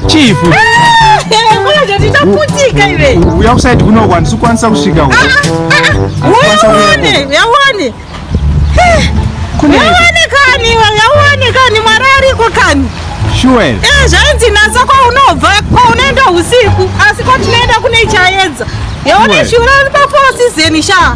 Chief. Ndaputika iwe. Uya kusaidi kuno kwani sikwanisa kusvika uko. Yaone, yaone. Kune yaone kani, yaone kani mwari ariko kani. Sure. Eh, zvainzi nasa kwa unobva, kwa unaenda usiku, asi kwa tinaenda kune chaedza. Yaone shure pa four season sha.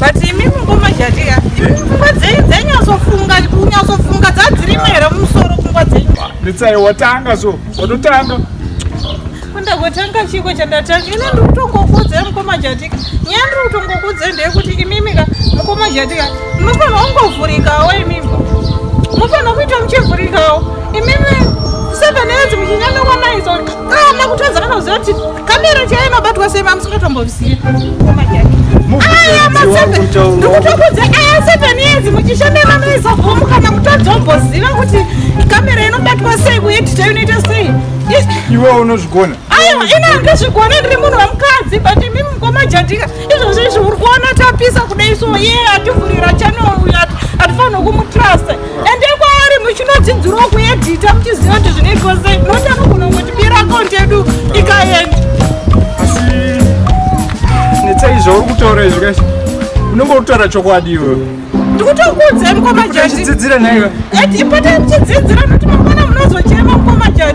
but imi mukoma jatiya imi pfungwa dzenyu dzainyatsofunga kunyatsofunga dzadzirimo here mumusoro pfungwa dzenyu netsai watanga so watotanga kundagotanga chiko chandatanga ine ndiri kutongokuudzai mukoma jatika nyaya ndiri kutongokuudzai ndeyekuti imimika mukoma jatika munofanira kungovhurikawo imimi munofanira kuita muchivhurikawo imimi seven years muchinyanga kwanaiso kana kutadza kana kuziva kuti Kamera chaiyo inobatwa sei mamusikatomboziva. Aya maseven ndikutokudza aya seven years muchishanda vanoisa gomu kana mutodzomboziva kuti kamera inobatwa sei kuedita inoita sei. Iwe unozvigona. Ayo ina ndozvigona ndiri munhu wamukadzi but imi mukoma jadika izvozvo izvi uri kuona tapisa kudai so ye ativhurira channel uyu atifanirwe kumutrust. ende kwaari muchinodzidzirawo kuedhita muchiziva kuti zvinoitwa sei noti anogona kungotibira akaunti yedu ikaenda asi netsaizvauri kutaura izvi kasi unenge uri kutaura chokwadi iwe ndikutokuudzai mukoma jati chidzidzira naiwe ipota muchidzidzira noti mangwana munozochema mukoma jati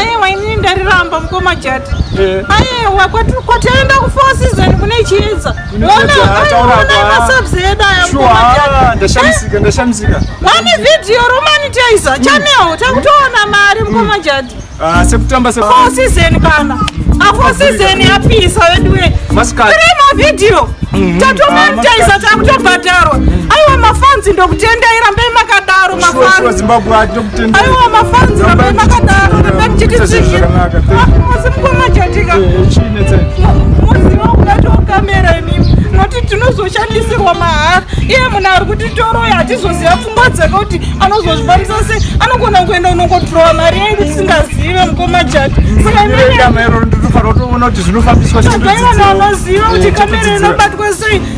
aiwa inini ndariramba mukoma jati eh. aiwa kwataenda kufour season kune chiedza onamasabzeda ayandashamisika vane video romanitizer hmm. chanel takutoona mari mukoma hmm. jati ah, sekutamba four season kana afour season yapisa veduwe tiri mavideo hmm. tatomanitizer ah, takutobhadharwa aiwa mafanzi ndokutendai rambai makadaro mafanzi aiwa mafanzi vamai makadaro rambai muchitisiira asi mukomachatika moziva kungatiwo kamera imimi noti tinozoshandisirwa mahara iye munhu ari kuti toroya hatizoziva pfungwa dzake kuti anozozvifambisa sei anogona kuenda kunongotirova mari yai kuti singazive mukomachati saka imaivanhu vanoziva kuti kamera inobatwa sei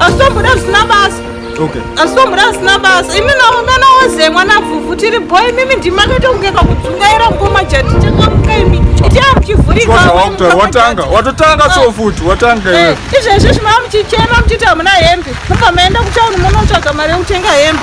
asi tomboda zvisina basa asi tomboda zvisina basa imi naungana woze mwana vhuvhu tiri bho imimi ndimi akaita kunge kakudzungaira mukoma jati chakamuka imi itia muchivhurikawatanga watotanga ah. so futi watanga eh, izvezvi zvimava muchichema muchiti hamuna hembe mubva maenda kutauni munotsvaga mari yekutenga hembe